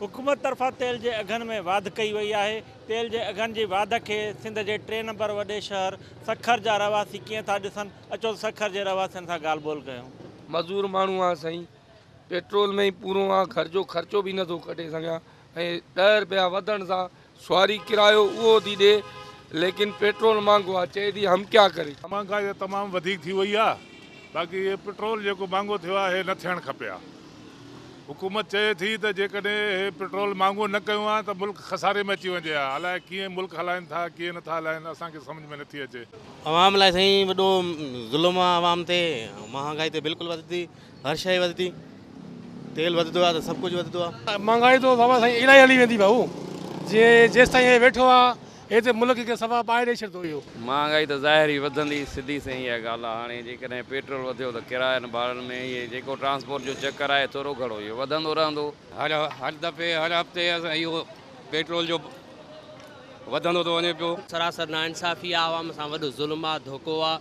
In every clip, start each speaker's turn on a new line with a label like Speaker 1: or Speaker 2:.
Speaker 1: حڪومت طرفان تيل جي اگهن ۾ واڌ ڪئي وئي آهي، تيل جي اگهن جي واڌ کي سنڌ جي ٽي نمبر وڏي شهر سکر جا رهواسي ڪيئن ٿا ڏسن، اچو ته سکر جي رهواسين سان ڳالهه ٻولهه ڪيون. مزور ماڻهو
Speaker 2: آهيان سائين، پيٽرول ۾ ئي پورو آهيان، گهر جو خرچو به نٿو ڪڍي سگهيان ۽ ڏهه رپيا وڌڻ سان سواري ڪرايو اهو ٿي ڏي ليڪن پيٽرول مهانگو آ چئي ٿي هم ڪيا ڪري. مهانگائي تمام وڌيڪ
Speaker 3: ٿي وئي آ باقي هي پيٽرول جيڪو مهانگو ٿيو آ هي نه ٿيڻ کپي آ حڪومت چئي ٿي ته جيڪڏهن هي پيٽرول مهانگو نه ڪيون آ ته ملڪ خساري ۾ اچي وڃي آ الاء ڪيئن ملڪ هلائين ٿا ڪيئن نه ٿا هلائين اسان کي سمجهه ۾ نه ٿي اچي. عوام لاء سائين
Speaker 4: وڏو ظلم آ عوام تي مهانگائي ته بلڪل وڌي هر شئي وڌي ٿي تيل وڌندو آهي ته سڀ ڪجهه وڌندو آهي. مھانگائي تو بابا سائين
Speaker 5: الائي ھلي ويندي ڀائو جي جيستائين ھي ويٺو آ ھي ته ملڪ کي سفا ٻاھي ڏئي ڇڏندو اھو. مھانگائي ته ظاھر ئي
Speaker 6: وڌندي سڌي سنئين اھا ڳالھ آ ھاڻي جيڪڏھن پيٽرول وڌيو ته ڪراين ڀاڙن ۾ ھي جيڪو ٽرانسپورٽ جو چڪر آھي ٿورو گھڻو اھو وڌندو رھندو. ھر ھر دفعي
Speaker 7: ھر ھفتي اسان اھو پيٽرول جو وڌندو ٿو وڃي پيو. سراسر ناانصافي
Speaker 4: آ عوام سان وڏو ظلم آ ڌوڪو آ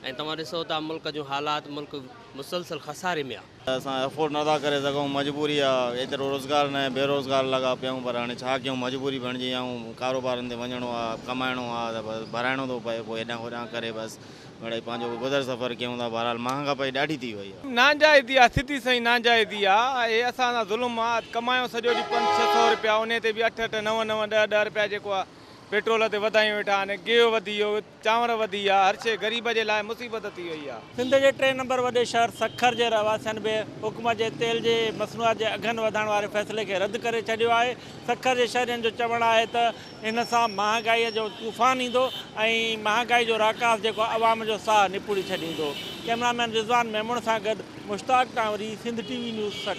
Speaker 4: ۽ توهان ڏسو ٿا ملڪ جون حالات ملڪ مسلسل خساري ۾ آ. اسان افورڊ نٿا ڪري
Speaker 8: سگهون مجبوري آ ايترو روزگار ناهي بيروزگار لڳا پيا آهيون پر هاڻي ڇا ڪيون مجبوري بڻجي ويا آهيون ڪاروبارن تي وڃڻو آ ڪمائڻو آ ته بس ڀرائڻو ٿو پئي پوء هيڏانهن هوڏانهن ڪري بس مڙئي پنهنجو گذر سفر ڪيون ٿا بهرحال مهانگاپائي ڏاڍي ٿي وئي آ. ناجائزي آ سڌي سئي
Speaker 5: ناجائزي آ اهي اسان سان ظلم آ ڪمايون سڄو ڏينهن پنج ڇهه سئو رپيا انهي تي به اٺ اٺ نو نو ڏهه ڏهه رپيا جيڪو آ پيٽرول تي وڌايون ويٺا آهن گيهه وڌي ويو چانور وڌي ويا، هر شيء غريب جي لاء مصيبت ٿي وئي آهي. سنڌ جي ٽئين نمبر وڏي
Speaker 1: شهر سکر جي رهواسين به حڪومت جي تيل جي مصنوعات جي اگهن وڌائڻ واري فيصلي کي رد ڪري ڇڏيو آهي. سکر جي شهرين جو چوڻ آهي ته ان سان مهانگائي جو طوفان ايندو ۽ مهانگائي جو راڪاس جيڪو عوام جو ساهه نپوڙي ڇڏيندو. ڪئميرا مين رضوان ميمڻ سان گڏ Mushtaq Tanwari, Sindh T V news, Sukkur.